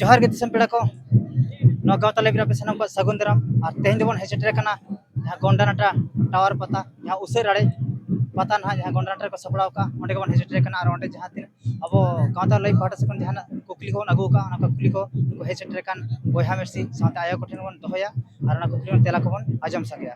ᱡᱚᱦᱟᱨ ᱜᱮ ᱫᱤᱥᱚᱢ ᱯᱮᱲᱟ ᱠᱚ ᱱᱚᱣᱟ ᱜᱟᱶᱛᱟ ᱞᱟᱭᱤᱵ ᱨᱮ ᱟᱯᱮ ᱥᱟᱱᱟᱢ ᱠᱚᱣᱟᱜ ᱥᱟᱹᱜᱩᱱ ᱫᱟᱨᱟᱢ ᱟᱨ ᱛᱮᱦᱮᱧ ᱫᱚᱵᱚᱱ ᱦᱮᱡ ᱥᱮᱴᱮᱨ ᱟᱠᱟᱱᱟ ᱡᱟᱦᱟᱸ ᱜᱚᱱᱰᱟᱱᱟᱴᱟ ᱴᱟᱣᱟᱨ ᱯᱟᱛᱟ ᱡᱟᱦᱟᱸ ᱩᱥᱟᱹᱨ ᱟᱲᱮ ᱯᱟᱛᱟ ᱱᱟᱦᱟᱜ ᱡᱟᱦᱟᱸ ᱜᱚᱱᱰᱟᱱᱟᱴᱟ ᱨᱮᱠᱚ ᱥᱟᱯᱲᱟᱣ ᱠᱟᱜᱼᱟ ᱚᱸᱰᱮ ᱜᱮᱵᱚᱱ ᱦᱮᱡ ᱥᱮᱴᱮᱨ ᱟᱠᱟᱱᱟ ᱟᱨ ᱚᱸᱰᱮ ᱡᱟᱦᱟᱸ ᱛᱤᱱᱟᱹᱜ ᱟᱵᱚ ᱜᱟᱶᱛᱟ ᱞᱟᱭᱤᱵ ᱯᱟᱦᱴᱟ ᱥᱮᱫ ᱠᱷᱚᱱ ᱡᱟᱦᱟᱱᱟᱜ ᱠᱩᱠᱞᱤ ᱠᱚᱵᱚᱱ ᱟᱹᱜᱩ ᱟᱠᱟᱫᱼᱟ ᱚᱱᱟ ᱠᱩᱠᱞᱤ ᱠᱚ ᱩᱱᱠᱩ ᱦᱮᱡ ᱥᱮᱴᱮᱨ ᱟᱠᱟᱱ ᱵᱚᱭᱦᱟ ᱢᱤᱥᱤ ᱥᱟᱶᱛᱮ ᱟᱭᱳ ᱠᱚᱴᱷᱮᱱ ᱵᱚᱱ ᱫᱚᱦᱚᱭᱟ ᱟᱨ ᱚᱱᱟ ᱠᱩᱠᱞᱤ ᱨᱮᱱᱟᱜ ᱛᱮᱞᱟ ᱠᱚᱵᱚᱱ ᱟᱸᱡᱚᱢ ᱥᱟᱸᱜᱮᱭᱟ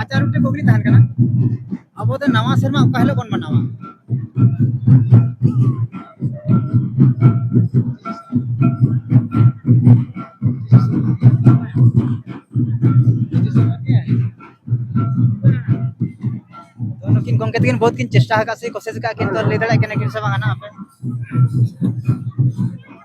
ᱟᱪᱟᱨ ᱢᱤᱫᱴᱮᱱ ᱠᱩᱠᱞᱤ ᱛᱟᱦᱮᱱ ᱠᱟᱱᱟ ᱟᱵᱚ ᱫᱚ ᱱᱟᱣᱟ ᱥᱮᱨᱢᱟ ᱚᱠᱟ ᱦᱤᱞᱳᱜ ᱵᱚᱱ ᱢᱟᱱᱟᱣᱟ ᱱᱩᱠᱤᱱ ᱜᱚᱢᱠᱮ ᱛᱟᱹᱠᱤᱱ ᱵᱚᱦᱩᱛ ᱠᱤᱱ ᱪᱮᱥᱴᱟ ᱟᱠᱟᱫ ᱥᱮ ᱠᱚᱥᱮᱥ ᱟᱠᱟᱫ ᱠᱤᱱ ᱛᱚ ᱞᱟᱹᱭ ᱫᱟᱲᱮᱭᱟᱜ ᱠᱟᱱᱟ ᱠᱤᱱ ᱥᱮ ᱵᱟᱝ ᱦᱟᱸᱜ ᱟᱯᱮ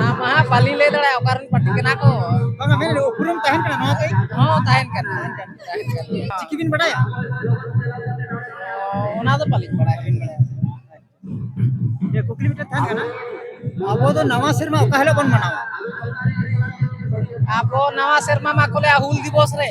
ᱱᱟᱢᱟ ᱵᱟᱞᱤ ᱞᱟᱹᱭ ᱫᱟᱲᱮᱭᱟᱜᱼᱟ ᱚᱠᱟ ᱨᱮᱱ ᱯᱟᱴᱤ ᱠᱟᱱᱟ ᱠᱚ ᱵᱟᱝᱟ ᱢᱮᱱ ᱩᱯᱨᱩᱢ ᱛᱟᱦᱮᱱ ᱠᱟᱱᱟ ᱱᱚᱣᱟ ᱛᱮ ᱦᱚᱸ ᱛᱟᱦᱮᱱ ᱠᱟᱱᱟ ᱪᱤᱠᱤ ᱵᱤᱱ ᱵᱟᱰᱟᱭᱟ ᱚᱱᱟ ᱫᱚ ᱵᱟᱹᱞᱤᱧ ᱵᱟᱲᱟᱭᱟ ᱵᱤᱱ ᱵᱟᱲᱟᱭᱟ ᱠᱩᱠᱞᱤ ᱢᱤᱫᱴᱮᱱ ᱛᱟᱦᱮᱱ ᱠᱟᱱᱟ ᱟᱵᱚ ᱫᱚ ᱱᱟᱣᱟ ᱥᱮᱨᱢᱟ ᱚᱠᱟ ᱦᱤᱞᱳᱜ ᱵᱚᱱ ᱢᱟᱱᱟᱣᱟ ᱟᱵᱚ ᱱᱟᱣᱟ ᱥᱮᱨᱢᱟ ᱢᱟ ᱠᱚ ᱞᱟᱹᱭᱟ ᱦᱩᱞ ᱫᱤᱵᱚᱥ ᱨᱮ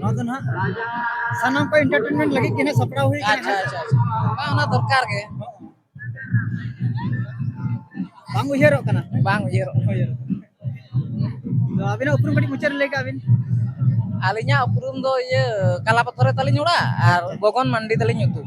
ᱱᱚᱣᱟ ᱫᱚ ᱱᱟᱦᱟᱜ ᱥᱟᱱᱟᱢ ᱠᱚ ᱮᱱᱴᱟᱨᱴᱮᱱᱢᱮᱱᱴ ᱞᱟᱹᱜᱤᱫ ᱜᱮ ᱱᱟᱦᱟᱜ ᱥᱟᱯᱲᱟᱣ ᱦᱩᱭ ᱟᱠᱟᱱᱟ ᱟᱪᱪᱷᱟ ᱟᱪᱪᱷᱟ ᱟᱪᱪᱷᱟ ᱵᱟᱝ ᱚᱱᱟ ᱫᱚᱨᱠᱟᱨ ᱜᱮ ᱵᱟᱝ ᱩᱭᱦᱟᱹᱨᱚᱜ ᱠᱟᱱᱟ ᱵᱟᱝ ᱩᱭᱦᱟᱹᱨᱚᱜ ᱩᱭᱦᱟᱹᱨᱚᱜ ᱛᱚ ᱟᱹᱵᱤᱱᱟᱜ ᱩᱯᱨᱩᱢ ᱠᱟᱹᱴᱤᱡ ᱢᱩᱪᱟᱹᱫ ᱨᱮ ᱞᱟᱹᱭ ᱠᱟᱜ ᱵᱤᱱ ᱟᱹᱞᱤᱧᱟᱜ ᱩᱯᱨᱩᱢ ᱫᱚ ᱤᱭᱟᱹ ᱠᱟᱞᱟ ᱯᱟᱛᱷᱚᱨ ᱨᱮ ᱛᱟᱹᱞᱤᱧ ᱚᱲᱟᱜ ᱟᱨ ᱜᱚᱜᱚᱱ ᱢᱟᱱᱰᱤ ᱛᱟᱹᱞᱤᱧ ᱧᱩᱛᱩᱢ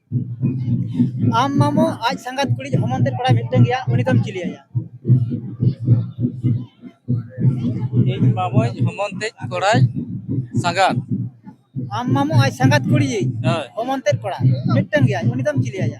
ᱟᱢ ᱢᱟᱢᱚ ᱟᱡ ᱥᱟᱸᱜᱟᱛ ᱠᱩᱲᱤ ᱦᱚᱢᱚᱱ ᱛᱮᱫ ᱠᱚᱲᱟ ᱢᱤᱫᱴᱟᱝ ᱜᱮᱭᱟ ᱩᱱᱤ ᱫᱚᱢ ᱪᱤᱞᱤᱭᱟᱭᱟ ᱤᱧ ᱢᱟᱢᱚᱧ ᱦᱚᱢᱚᱱ ᱛᱮᱡ ᱠᱚᱲᱟᱭ ᱥᱟᱸᱜᱟᱛ ᱟᱢ ᱢᱟᱢᱚ ᱟᱡ ᱥᱟᱸᱜᱟᱛ ᱠᱩᱲᱤ ᱦᱳᱭ ᱦᱚᱢᱚᱱ ᱛᱮᱫ ᱠᱚᱲᱟ ᱢᱤᱫᱴᱟᱝ ᱜᱮᱭᱟ ᱩᱱᱤ ᱫᱚᱢ ᱪᱤᱞᱤᱭᱟᱭᱟ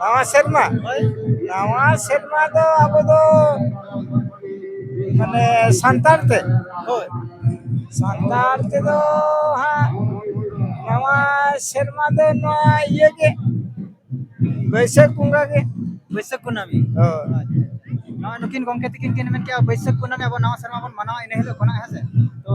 ᱱᱟᱣᱟ ᱥᱮᱨᱢᱟ ᱱᱟᱣᱟ ᱥᱮᱨᱢᱟ ᱫᱚ ᱟᱵᱚ ᱫᱚ ᱢᱟᱱᱮ ᱥᱟᱱᱛᱟᱲ ᱛᱮ ᱦᱳᱭ ᱥᱟᱱᱛᱟᱲ ᱛᱮᱫᱚ ᱦᱟᱸᱜ ᱱᱟᱣᱟ ᱥᱮᱨᱢᱟ ᱫᱚ ᱱᱚᱣᱟ ᱤᱭᱟᱹ ᱜᱮ ᱵᱟᱹᱭᱥᱟᱹᱠᱷ ᱵᱚᱸᱜᱟ ᱜᱮ ᱵᱟᱹᱭᱥᱟᱹᱠᱷ ᱠᱩᱱᱟᱹᱢᱤ ᱦᱳᱭ ᱱᱚᱣᱟ ᱱᱩᱠᱤᱱ ᱜᱚᱢᱠᱮ ᱛᱟᱹᱠᱤᱱ ᱠᱤᱱ ᱢᱮᱱ ᱠᱮᱜᱼᱟ ᱵᱟᱹᱭᱥᱟᱹᱠᱷ ᱠᱩᱱᱟᱹᱢᱤ ᱟᱵᱚ ᱱᱟᱣᱟ ᱥᱮᱨᱢᱟ ᱵᱚᱱ ᱢᱟᱱᱟᱣᱟ ᱤᱱᱟᱹ ᱦᱤᱞᱳᱜ ᱠᱷᱚᱱᱟᱜ ᱦᱮᱸ ᱥᱮ ᱛᱚ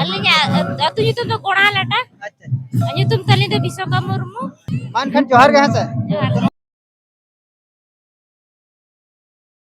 ᱟᱹᱞᱤᱧᱟᱜ ᱟᱹᱛᱩ ᱧᱩᱛᱩᱢ ᱫᱚ ᱠᱚᱲᱟ ᱞᱟᱴᱟ ᱟᱪᱪᱷᱟ ᱟᱨ ᱧᱩᱛᱩᱢ ᱛᱟᱹᱞᱤᱧ ᱫᱚ ᱵᱤᱥᱚᱠᱟ ᱢᱩᱨᱢᱩ ᱢᱟ ᱮᱱᱠᱷᱟᱱ ᱡᱚᱦᱟᱨ ᱜᱮ ᱦᱮᱸ ᱥᱮ ᱡᱚᱦᱟᱨ ᱜᱮ